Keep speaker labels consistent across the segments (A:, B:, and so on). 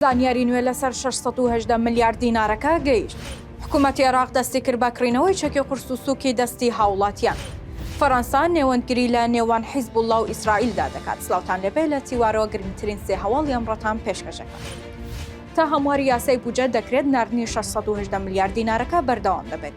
A: زانیاری نوێ لەسەر شەش سەد و هەژدە ملیار دینارەکە گەیشت، حکومەتی عێراق دەستی کرد بە کڕینەوەی چەکی قورس و سووکی دەستی هاوڵاتیان. فەرەنسا نێوەندگری لە نێوان حیزبوڵڵا و ئیسرائیلدا دەکات. سلاوتان لێبێ لە تیوارەوە گرنگترین سێ هەواڵی ئەمڕۆتان پێشکەش ئەکەم. تا هەمواری یاسای بودجە دەکرێت ناردنی شەش سەد و هەژدە ملیار دینارەکە بەردەوام دەبێت،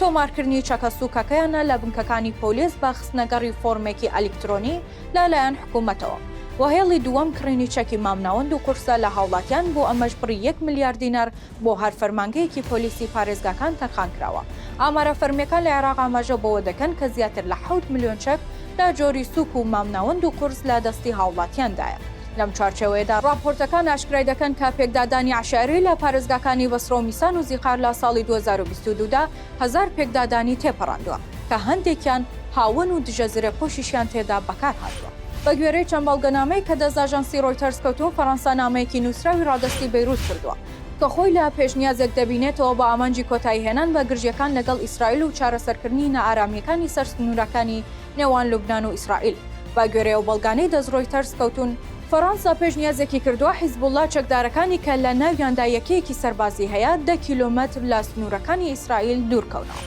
A: تۆمارکردنی چەکە سووکەکەیانە لە بنکەکانی پۆلیس بە خستنەگەڕی فۆرمێکی ئەلیکترۆنی لە لایەن حکوومەتەوە و هێڵی دووەم کڕینی چەکی مامناوەند و قورسە لە هاوڵاتیان بۆ ئەمەش بڕی یەک ملیار دینار بۆ هەر فەرمانگەیەکی پۆلیسی پارێزگاکان تەرخان کراوە. ئامارە فەرمییەکان لە عێراق ئاماژە بەوە دەکەن کە زیاتر لە حەوت ملیۆن چەک لە جۆری سووک و مامناوەند و قورس لە دەستی هاوڵاتیاندایە. لەم چوارچێوەیەدا ڕاپۆرتەکان ئاشکرای دەکەن کە پێکدادانی عەشایری لە پارێزگاکانی بەسڕە و میسان و زیقار لە ساڵی دوو هەزار و بیست و دوو دا هەزار پێکدادانی تێپەڕاندووە کە هەندێکیان هاوەن و دژە زرێپۆشیشیان تێدا بەکار هاتووە. بە گوێرەی چەند بەڵگەنامەیەک کە دەست ئاژانسی ڕۆیتەرز کەوتوون، فەرەنسا نامەیەکی نووسراوی ڕادەستی بەیرووت کردووە کە خۆی لە پێشنیازێک دەبینێتەوە بە ئامانجی کۆتاییهێنان بە گرژییەکان لەگەڵ ئیسرائیل و چارەسەرکردنی نائارامییەکانی سەر سنوورەکانی نێوان لوبنان و ئیسرائیل. بەگوێرەی ئەو بەڵگانەی دەست ڕۆیتەرز کەوتوون، فەڕەنسا پێشنیازێکی کردووە حیزبوڵڵا چەکدارەکانی کە لە ناویاندا یەکەیەکی سەربازی هەیە دە کیلۆمەتر لە سنوورەکانی ئیسرائیل دوور کەونەوە.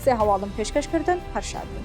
A: سێ هەواڵم پێشکەش کردن هەر شاد بن.